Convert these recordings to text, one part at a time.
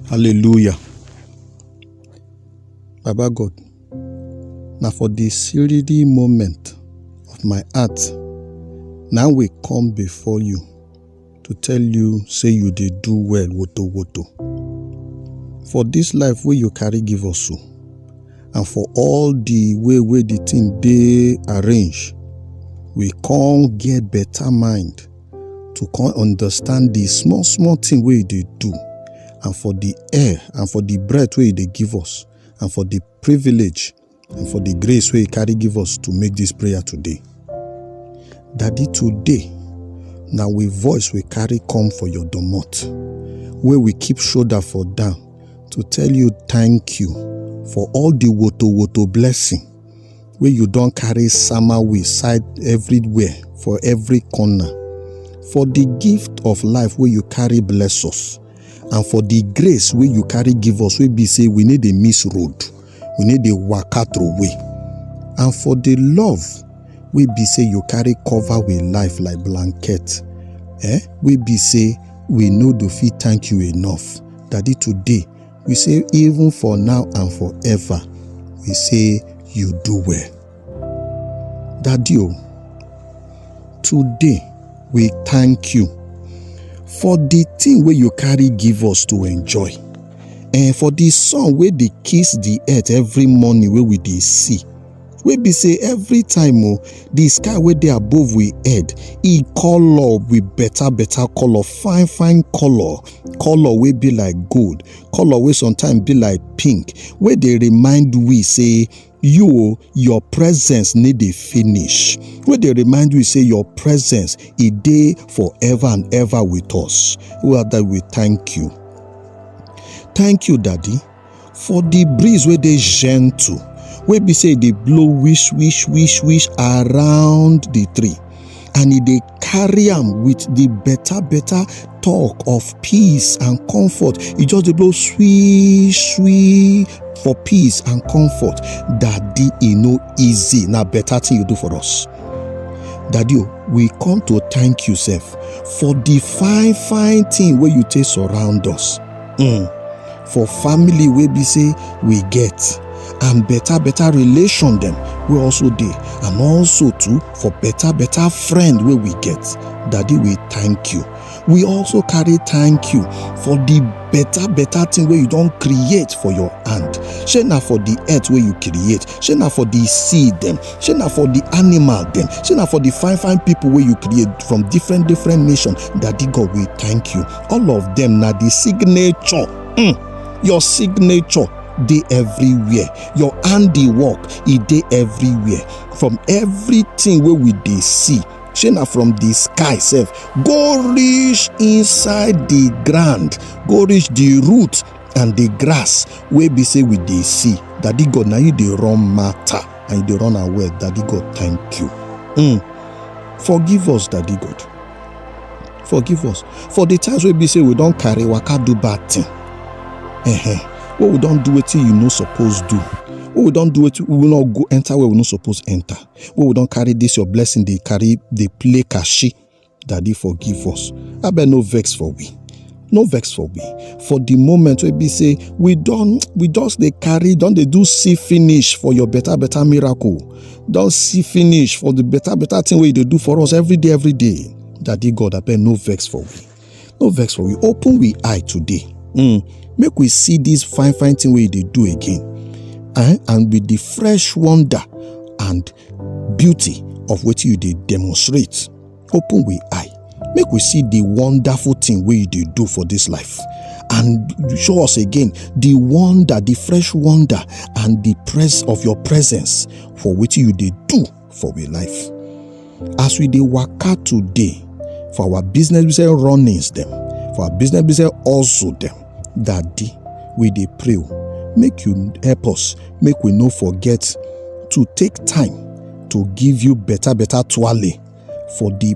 Hallelujah. Baba God, na for the siridi moment of my heart, now we come before you to tell you say you dey do well woto woto. For this life wey you carry give us so, and for all the way wey the thing dey arrange, we come get better mind to come understand the small small thing wey e dey do and for the air and for the breath wey e dey give us and for the privilege and for the grace wey e carry give us to make this prayer today. Daddy, today na we voice we carry come for your domot wey we keep shoulder for down to tell you thank you for all the woto woto blessing wey you don carry sama we side everywhere for every corner for the gift of life wey you carry bless us and for the grace wey you carry give us wey be say we need a miss road we need a waka through way and for the love wey be say you carry cover with life like blanket eh wey be say we no do fit thank you enough daddy today we say even for now and forever we say you do well daddy o today we thank you for the thing wey you carry give us to enjoy and for the sun wey dey kiss the earth every morning wey we dey see wey be say every time o the sky wey dey above we head e colour with better better colour fine fine colour colour wey be like gold colour wey sometimes be like pink wey dey remind we say you o your presence no dey finish wey dey remind you say your presence e dey forever and ever with us father we thank you thank you daddy for the breeze wey dey gentle wey be say e dey blow wish wish wish wish around the tree and e dey carry am with the better better talk of peace and comfort e just dey blow sweet sweet for peace and comfort daddy e no easy na better thing you do for us daddy o we come to thank you sef for the fine fine thing wey you take surround us um for family wey be say we get and better better relation dem wey also dey and also too for better better friend wey we get daddy we thank you we also carry thank you for the better better thing wey you don create for your hand shey na for the earth wey you create shey na for the sea dem shey na for the animal dem shey na for the fine fine people wey you create from different different nation daddy god we thank you all of them na the signature mm, your signature dey everywhere your handiwork e dey everywhere from everything wey we dey see shey na from the sky sef go reach inside the ground go reach the root and the grass wey be say we dey see daddy god na you dey run matter and you dey run am well daddy god thank you mm. forgive us daddy god forgive us for the times wey be say we don carry waka do bad thing uh-huh. wey we don do wetin you no suppose do wey we don do wetin we no go enter where we no suppose enter wey we don carry this your blessing dey carry dey play kashi daddy forgive us abeg no vex for we no vex for we for the moment wey be say we don we just dey carry don dey do see finish for your better better miracle don see finish for the better better thing wey you dey do for us every day every day Daddy God, I beg no vex for we. No vex for we. Open we eye today. Mm. Make we see this fine, fine thing we they do again. Eh? And with the fresh wonder and beauty of what you they demonstrate. Open we eye. Make we see the wonderful thing we they do for this life. And show us again the wonder, the fresh wonder, and the press of your presence for which you they do for we life as we dey waka today for our business business runnings dem for our business business also dem daddy we dey pray o make you help us make we no forget to take time to give you better better twale for the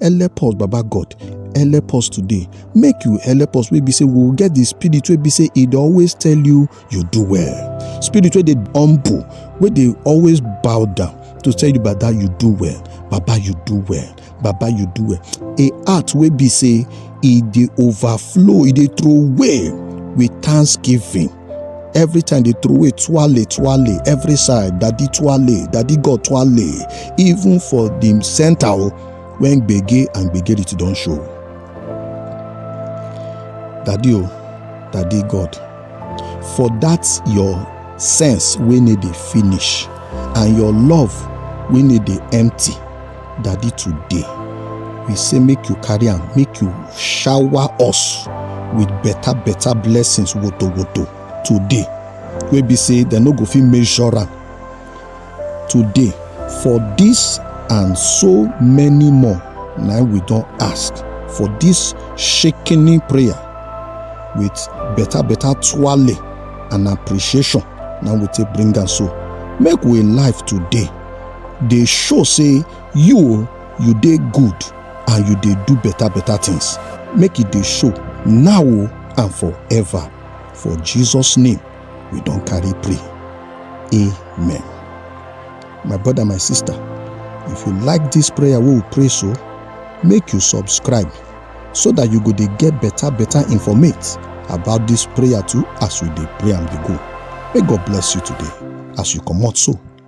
help us baba god help us today make you help us wey be say we will get the spirit wey be say e dey always tell you you do well spirit wey dey humble wey dey always bow down to tell you baba you do well baba you do well baba you do well a heart wey be say e dey overflow e dey throw away with thanksgiving every time they throw away twale twale every side daddy twale daddy god twale even for the center o when gbege and gbegerity don show daddy o daddy god for that your sense wey no dey finish and your love wey no dey empty daddy today we say make you carry am make you shower us with better better blessings woto woto today wey be say dem no go fit measure am today for this and so many more na we don ask for this shaking prayer with better better twale and appreciation na we take bring am so make we life today dey show say you o you dey good and you dey do better better things make e dey show now o and forever for jesus name we don carry pray amen my brother my sister if you like this prayer wey we pray so make you subscribe so that you go dey get better better informate about this prayer too as we dey pray am dey go may god bless you today as you comot so